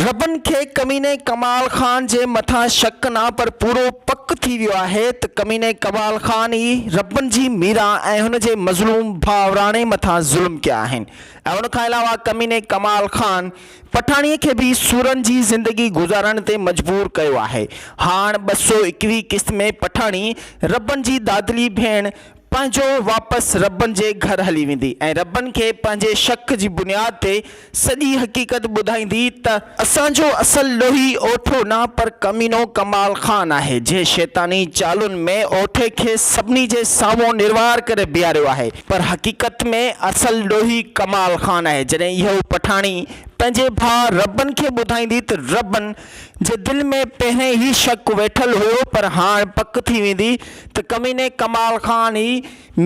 ربن کي ڪميني ڪمال خان جي مٿان شڪ نه پر پورو پڪ ٿي ويو آهي ته ڪميني ڪمال خان ئي ربن جي ميران ۽ هن جي مظلوم ڀاء راڻي مٿان ظلم ڪيا آهن ۽ ان کان علاوه ڪميني ڪمال خان پٺاڻي کي به سورن جي زندگي گذارڻ تي مجبور ڪيو آهي هاڻ ٻه سؤ ايڪويهه قسط ۾ پٺاڻي ربن جي دادلي ڀيڻ پنهنجو واپس ربن جي گهر هلي ويندي ۽ ربن کي پنهنجي شڪ جي بنياد تي سڄي حقيقت ٻڌائيندي ته، اسان جو اصل ڏوهي اوٺو نه پر ڪمينو ڪمال خان آهي، جنهن شيطاني چالن ۾ اوٺي کي سڀني جي سامهون نروار ڪري بيهاريو آهي، پر حقيقت ۾ اصل ڏوهي ڪمال خان آهي، جڏهن اهو پٺاڻي پنهنجي ڀاء ربن کي ٻڌائيندي ته ربن جي دل ۾ پهرين هي شڪ ويٺل هو پر هاڻ پڪ ٿي ويندي ته ڪميني ڪمال خان ئي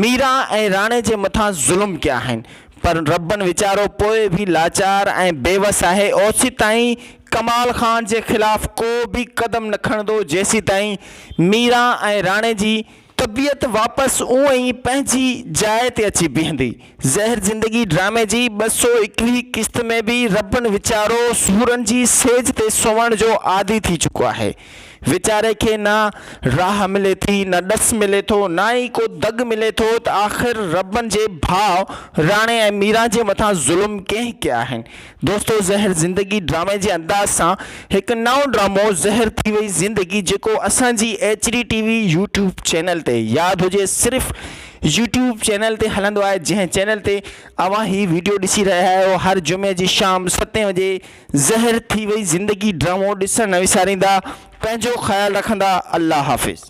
ميران ۽ راڻي جي مٿان ظلم ڪيا آهن پر ربن ويچارو پوء به لاچار ۽ بيوس آهي اوسيتائين ڪمال خان جي خلاف ڪو به قدم نه کڻندو جيسيتائين ميران ۽ راڻي جي طبيعت واپس اونء ئي پنهنجي جاء تي اچي بيهندي. زهر زندگي ڊرامي جي ٻه سؤ ايڪويهين قسط ۾ به ربن ويچارو سورن جي سيج تي سوڻ جو عادي ٿي چڪو آهي. ويچاري کي نه راهه ملي ٿي، نه ڏس ملي ٿو، نه ئي ڪو دڳ ملي ٿو ته آخر ربن جي ڀاء راڻي ۽ ميران جي مٿان ظلم ڪنهن ڪيا آهن، دوستو زهر زندگي ڊرامي جي انداز سان هڪ نئون ڊرامو زهر ٿي وئي زندگي جيڪو اسان جي H D T V YouTube channel تي ياد هجي صرف يوٽيوب چينل تي هلندو آهي جنهن چينل تي اوهان هي ويڊيو ڏسي رهيا آهيو هر جمعي جي شام ستين وڄي زهر ٿي وئي زندگي ڊرامو ڏسڻ نه وساريندا پنهنجو خيال رکندا الله حافظ.